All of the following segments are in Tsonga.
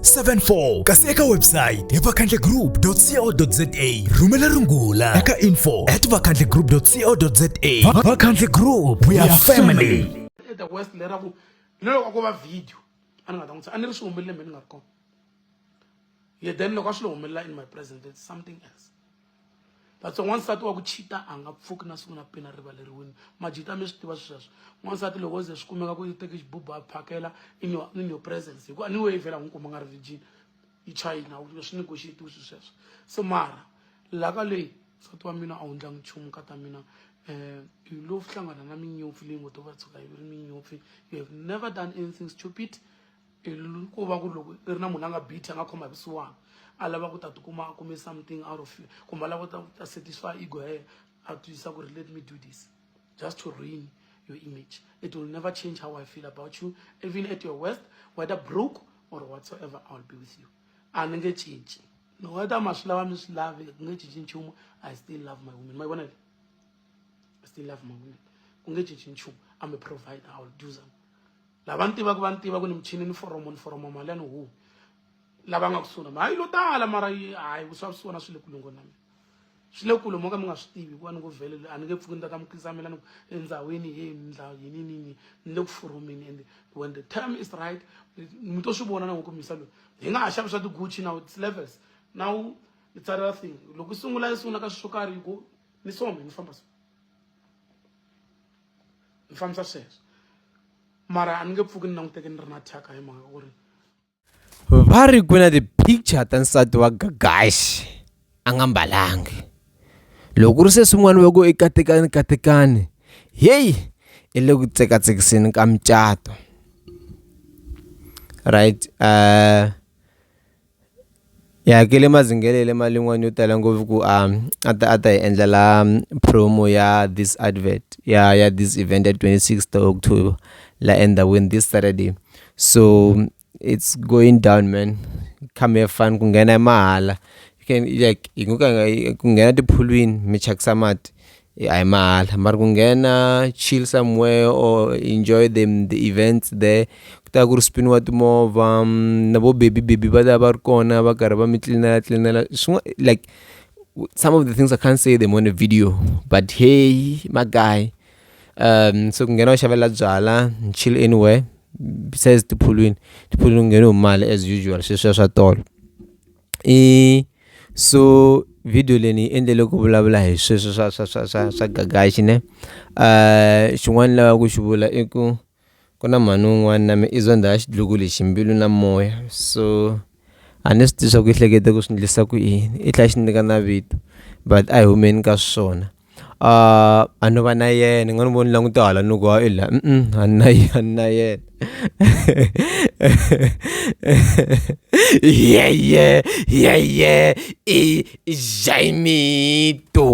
74 kasi eka website hi vakhandlegroup.co.za rhumela rungula eka info at vakhandlegroup.co.za vakhandle group we are family the west lera ku ni loko ko va video a ni nga ta n'wi a ni ri swi humelele mhe ni nga ri kona ye then loko a swi lo humelela in my present it's something else that's why n'wansati wa ku cheata a nga pfuki na siku na peni a rivaleriwini majita mi swi tiva swi sweswo n'wansati loko o ze swi kumeka ku teke xibubu a phakela in your, in your presence hikuva ni weyi vhela n'wi kuma nga ri virgin yi china swi ni goxetiwi swi sweswo se mara laha ka leyi nsati wa mina a wu ndlangi nchumu ka ta mina um hi lo hlangana na minyopfi leyi ngo to va tshuka yi ri minyopfi you have never done anything stupid ku va ku loko i ri na munhu a nga bithi a nga khoma hi vusiwana a lava ku ta tikuma a kume something out of you kumbe a lava ta ta satisfy ego ya yena a twisisa ku ri let me do this just to ruin your image it will never change how i feel about you even at your worst whether broke or whatsoever i will be with you a ni nge cinci no whether ma swi lava mi swi lavi ku nge cinci nchumu i still love my woman ma yi vona i still love my woman ku nge cinci nchumu i'm a provider i will do something lava ni tivaka va ni tiva ku ni michini ni foromo ni foromo mali ya ni huwi lava nga kusuhi na mi hayi lo tala mara hayi vusiwa swi vona swi le kulungo na mina swi le kule mo ka mi nga swi tivi hikuva ni ku vhele a ni nge pfuki ni ta ta mukisa mina ni ku endhawini ye ndla yini nini ni le ku foromini and when the term is right mi to swi vona na ku misa loyi hi nga ha xavi swa tiguchi now its levels now it's other thing loko i sungula i sungula ka swi swo karhi hi ku ni some ni famba so ni fambisa sweswo mara a ni nge pfuki ni languteke ni ri na thyaka hi mhaka ku ri va ri ku na ti-picture ta nsati wa gagaxi a nga mbalangi loko ri se swin'wana va ku i katekani katekani heyi i le ku tsekatsekiseni ka mucato right uh Hi hakele mazingele ya le malin'wani yo tala ngopfu ku a a ta a ta hi endlela promo ya this advert ya ya this event ya twenty six ta October laha endhawini this Saturday so it's going down man come have fun ku nghena i mahala you can like hi ku nghena tiphulwini mi thyakisa mati Hayi mahala mara ku nghena chill somewhere or enjoy the the events there ku ta va ku ri spin-iwa timovha na vo baby baby va ta va ri kona va karhi va mi tlilinela tlilinela like some of the things I can't say them on a video but heyi magayi se ku nghena u xavela byalwa chill anywhere besides tiphulwini tiphulwini ku ngheniwe hi mali as usual sweswiya swa tolo. I so video leyi ni yi endlele ku vulavula hi sweswo swa swa swa swa swa gagaxi ne xin'wana ni lavaka ku xi vula i ku ku na mhani un'wana na me i zondha ya xidlokulu hi ximbilu na moya so a ni swi tivi swa ku i hlekete ku swi ndlisa ku yini i tlhela xi nyika na vito but a hi humeni ka swona. Ah, a no va na yena ni nga ni voni languta hala ni ku i la a na a na yena ye ye ye ye i jaimito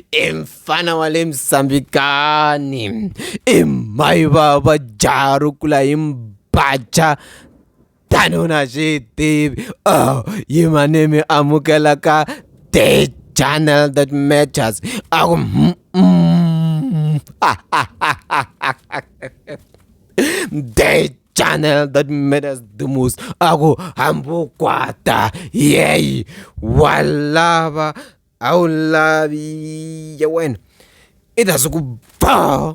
i mfana wa le misambikani i mhai va va jaha ro kula hi mbaja. tano na swi tivi oh yi manimi amukela ka the channel that matters a ku mm, mm. the channel that matters the most a ku hambukwata yeyi wa lava a wu lavi ya wena i ta swi ku ba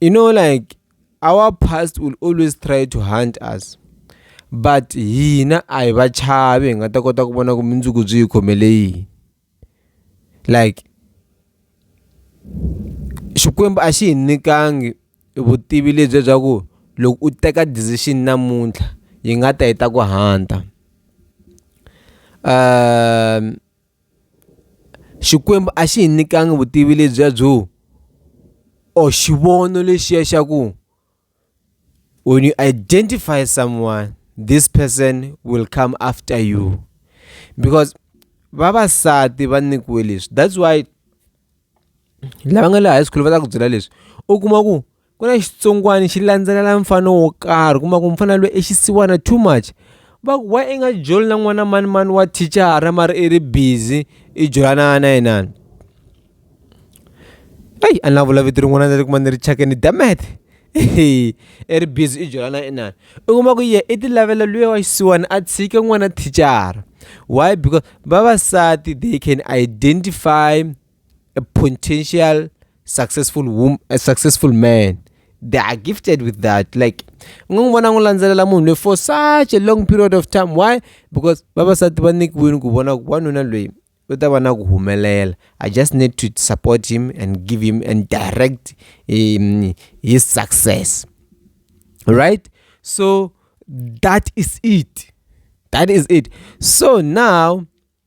you know like our past will always try to hunt us but hina a hi va chavi hi nga ta kota ku vona ku mundzuku byi hi khomele yini like Xikwembu a xi hi nyikangi vutivi lebyi bya ku loko u teka decision namuntlha yi nga ta yi ta ku hanta . Xikwembu a xi hi nyikanga vutivi lebyiya byo or xivono lexiya xa ku when you identify someone this person will come after you because vavasati va nyikiwe leswi that's why lava nga le high school va ta ku byela leswi u kuma ku. ku na xitsongwani xi landzelela mfana wo karhi kuma ku mfana loyi i xisiwana too much va ku why i nga joli na n'wana mani mani wa thichara mara i ri busy i jolana na yinani eyi a ni na vula vito rin'wana ni ri kuma ni ri chake ni dya math i ri busy i jolana na inani u kuma ku ye i ti lavela luya wa xisiwana a tshike n'wana thichara why because vavasati they can identify a potential successful woman, a successful man they are gifted with that like u nga n'wi vona n'wi landzelela munhu loyi for such a long period of time why because vavasati va nyikiwile ku vona ku wanuna loyi u ta va na ku humelela i just need to support him and give him and direct um, his success right so that is it that is it so now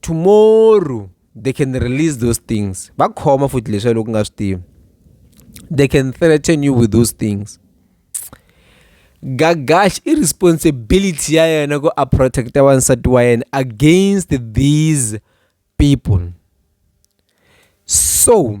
tomorrow they can release those things va khoma futhi leswi loko nga swi tivi they can threaten you with those things gagash i responsibility ya yena ku a protecta wansati wa yena against these people so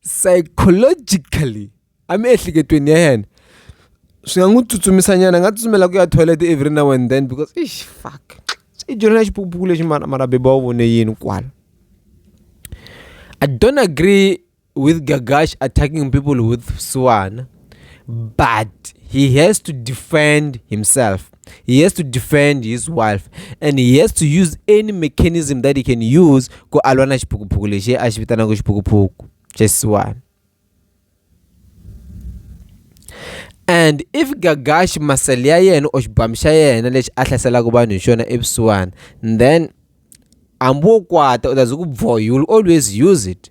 psychologically emiehleketweni ya yena swi nga n'wi tsutsumisa nyana a nga tsutsumela ku ya toilet every now and then because ish fuck i dyondzo na xipukupuku lexi marabeba wa vone yini kwala i don't agree with gagash attacking people with vusiwana but he has to defend himself he has to defend his wife and he has to use any mechanism that he can use ku alwa na xiphukuphuku lexi a xi vitanaka xiphukuphuku xesiwani and if gagashi masele ya yena or xibamu xa yena lexi a hlaselaka vanhu hi xona evusiwana then hambi wo kwata u ta ze ku bvoha you will always use it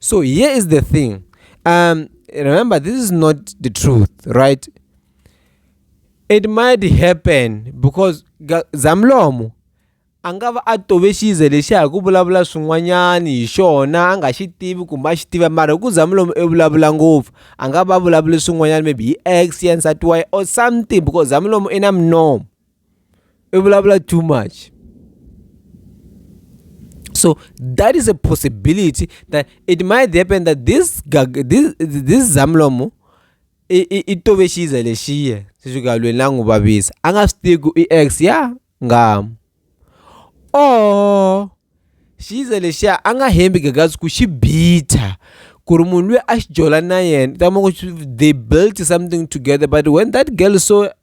so here is the thing um remember this is not the truth right it might happen because zamlomo a nga va a tove xize lexi hi ku vulavula swin'wanyani hi xona a nga xi tivi kumbe a xi tiva mara hi ku zamlomo i vulavula ngopfu a nga va vulavuli swin'wanyana maybe hi ex ya nsati wa ye or something because zamlomo i na minomo i vulavula too much so that is a possibility that it might happen that this this, this zamlomo i tove xiza lexiya swi fika lweni la n'wi vavisa a nga swi tivi ku i x ya ngama or xiza lexiya a nga hembi gagazi ku xi bitha ku ri munhu loyi a xi jola na yena ta ma ku they built something together but when that girl saw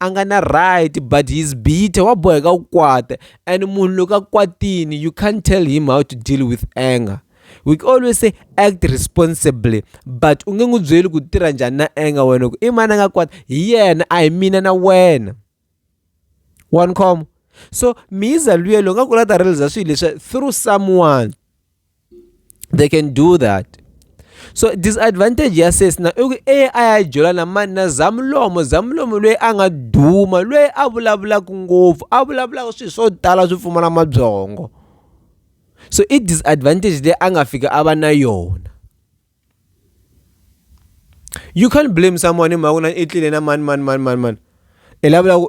a nga na right but he's bitter wa boheka ku kwata and munhu loko a kwatini you can't tell him how to deal with anger we always say act responsibly but u nge n'wi byeli ku tirha njhani na anger wena ku i mani a nga kwata hi yena a hi mina na wena one com so miza luyelo u nga ku la ta realiza swilo leswi through someone they can do that so disadvantage ya sesi na i ku e a ya jola na mani na zamulomo zamulomo loyi a nga duma loyi a vulavulaka ngopfu a vulavulaka swilo swo tala swi pfumala mabyongo so i disadvantage leyi a nga fika a va na yona you can't blame someone in mhaka na i tlile na mani mani mani mani mani i lavula ku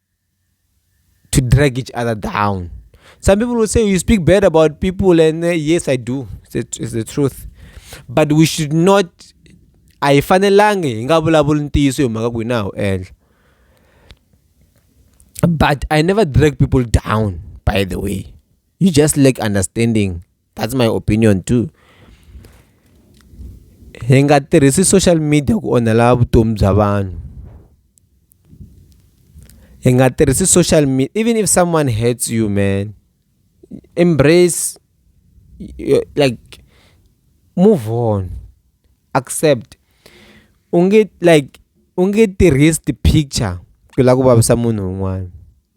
to drag each other down. Some people will say you speak bad about people, and uh, yes, I do. It's the, it's the truth. But we should not. I ayifanelangi hi nga vulavuli ntiyiso hi mhaka ku na wu endla but i never drag people down by the way you just lack understanding that's my opinion too hi nga tirhisi social media ku onhela vutomi bya vanhu hi nga tirhisi social media even if someone hates you man embrace like move on accept u nge like u nge tirhisi ti-picture ku lava ku vavisa munhu un'wana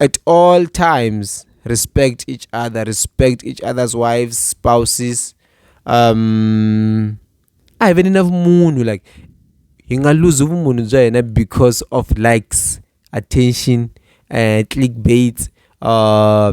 At all times, respect each other, respect each other's wives, spouses. Um, a hi veni na vumunhu like hi nga luzi vumunhu bya hina because of likes attention uh, clickbaits uh,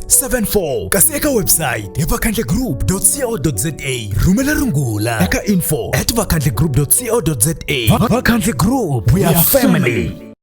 74 kasi eka website hi vakhandlegroup.co.za rhumela rungula eka info at vakhandlegroup.co.za vakhandle group we are family